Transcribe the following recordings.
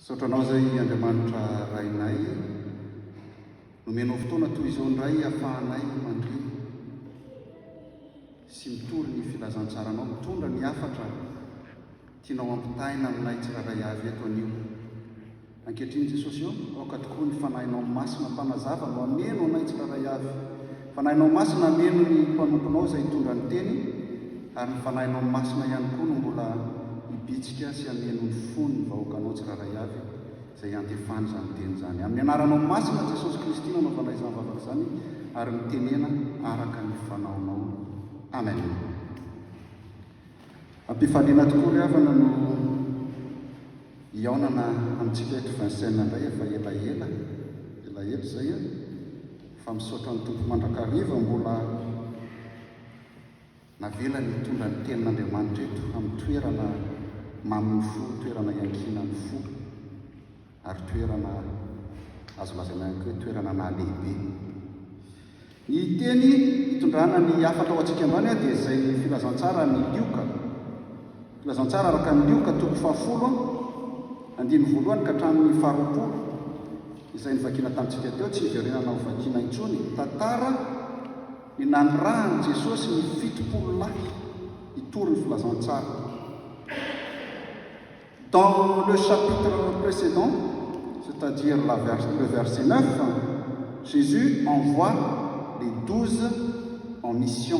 Misaotra anao izay Andriamanitra Rainay nomenao fotoana toy izao indray afahanay mandre sy mitory ny filazantsaranao mitondra ny hafatra tianao ampitaina aminay tsirairay avy eto anio. Ankehitriny Jesosy ô, aoka tokoa ny Fanahinao Masina mpanazava no hameno anay tsirairay avy Fanahinao Masina hameno ny mpanomponao izay hitondra ny Teny, ary ny Fanahinao Masina ihany koa no mbola hibitsika sy hameno ny fon'ny vahoakanao tsirairay avy izay hiantefany izany Teny izany. Amin'ny Anaranao Masina Jesosy Kristy no anaovana izany vavaka izany ary mitenena araka ny fanaonao. Amen. Am-pifaliana tokoa ry havana no hihaonana amintsika eto Vincennes indray, efa elaela, elaela izay an. Fa misaotra ny Tompo mandrakariva mbola navelany hitondra ny tenin'Andriamanitra eto amin'ny toerana mamin'ny fo, toerana iankinan'ny fo ary toerana azo lazaina ihany koa hoe toerana nahalehibe. Ny teny hitondrana ny hafatra ho antsika indray dia izay filazantsara ny Lioka. Filazantsara araka ny Lioka toko fahafolo andininy voalohany ka hatramin'ny faharoapolo izay novakiana tamintsika teo tsy hiverenana ho vakiana intsony, tantara ny nanirahan'i Jesosy ny fitopolo lahy hitory ny filazantsara. Dans le chapitre précédent, c'est-à-dire la vers, le verset 9, Jésus envoie les douze en mission.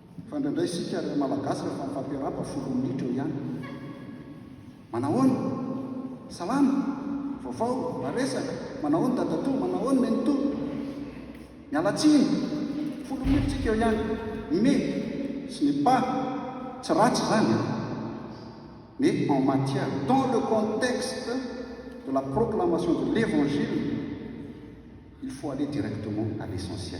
Fa indraindray isika ry Malagasy rehefa mifampirahaba folo minitra eo ihany. Manahoana? Salama? Vaovao? Mba resaka? Manahoana dadatoa? Manahoana nenitoa? Miala tsiny? Folo minitra tsika eo ihany. Ny me sy ny pa tsy ratsy izany an! Mais en matière, dans le contexte de la proclamation de l'Evangile, il faut aller directement à l'essentiel.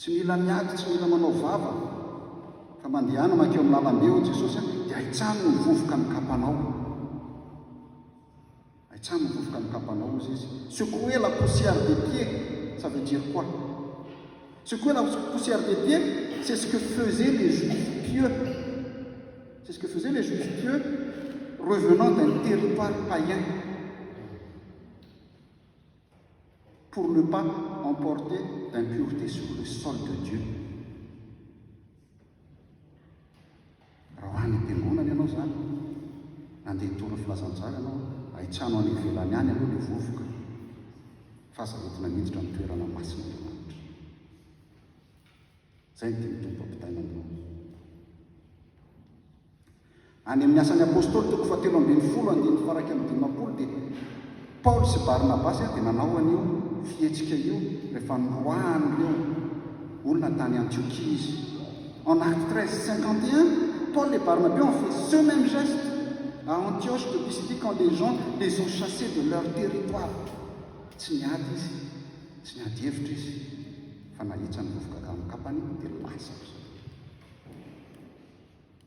Tsy mila miady, tsy mila manao vava, fa mandehana mankeo amin'ny lalambe hoy Jesosy a, dia ahitsano ny vovoka ny kapanao. Ahitsano ny vovoka ny kapanao hozy izy. Secouez la poussière des pieds, ça veut dire quoi? Secouez la poussière des pieds, c'est ce que faisaient les juifs pieux. C'est ce que faisaient les juifs pieux revenant d'un territoire païen. pour ne pas emporter d'impureté sur le sol de Dieu raha ho any am-piangonana ianao izany nandeha hitondra filazantsara ianao ahitsano any ivelany any aloha ilay vovoka fa aza entina miditra amin'ny toerana masina Zay ny teny tompo ampitaina aminao. Any amin'ny Asan'ny Apôstôly toko fahatelo ambin'ny folo andininy faraika amin'ny dimampolo dia Paoly sy Barnabasy dia nanao an'io fihetsika io rehefa noroahan'ireo olona tany Antiokia izy. En Actes treize, cinquante et un, Paul et Barnabé ont fait ce même geste à Antioche de Pisidie quand les gens les ont chassés de leur territoire. Tsy niady izy, tsy niady hevitra izy fa nahitsany vovoka gamin-kapany dia lasa ry zareo.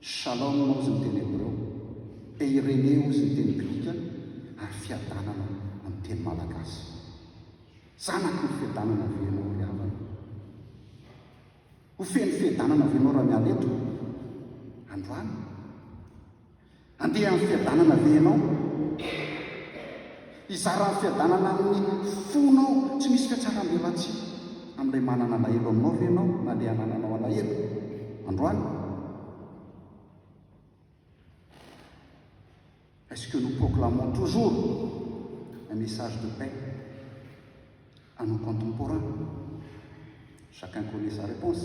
Shalom ozy ny teny hebreo, eirene ozy ny teny grika ary fiadanana amin'ny teny malagasy. Zanaky ny fiadanana ve ianao ry havana? Ho feno fiadanana ve ianao raha miala eto androany? Handeha amin'ny fiadanana ve ianao? Hizara ny fiadanana amin'ny fonao tsy misy fiatsarambelatsihy amin'ilay manana alahelo aminao ve ianao na ilay anananao alahelo androany? Est-ce que nous proclamons toujours un message de paix à nos contemporains? Chacun connaît sa réponse.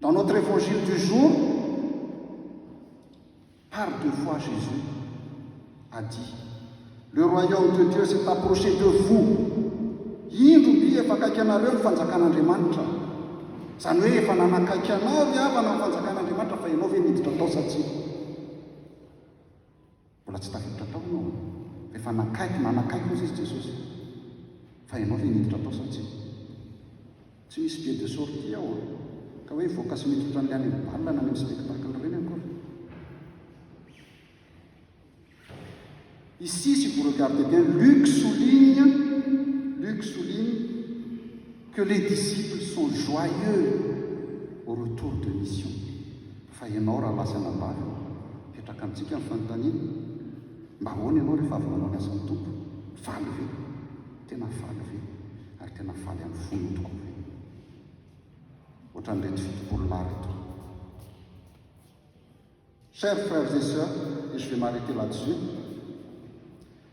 Dans notre évangile du jour, par deux fois Jésus a dit Le royaume de Dieu s'est approché de vous. Indro mby efa akaiky anareo ny fanjakan'Andriamanitra. Izany hoe efa nanakaiky anao ry havana ny fanjakan'Andriamanitra fa ianao ve miditra tao sa tsia? Mbola tsy tafiditra tao ianao an! Rehefa nakaiky, nanakaiky ozy izy, Jesosy, fa ianao ve niditra tao sa tsia? Tsy misy billet de sortie ao an! Ka hoe hivoaka sy mitsotra an'ilay any amin'ny bal na any amin'ny spectacle ireny akory. Ici, si vous regardez bien, Luc souligne, Luc souligne que les disciples sont joyeux au retour de mission. Fa ianao rahalahy sy anabavy, mipetraka amintsika ny fanontaniana, mba ahoana ianao rehefa avy nanao ny asan'ny Tompo? Faly ve? Tena faly ve? Ary tena faly amin'ny fonao tokoa ve? Ohatran'ireto fitopolo lahy ireto. Chers frères et sœurs, et je vais m'arrêter là-dessus,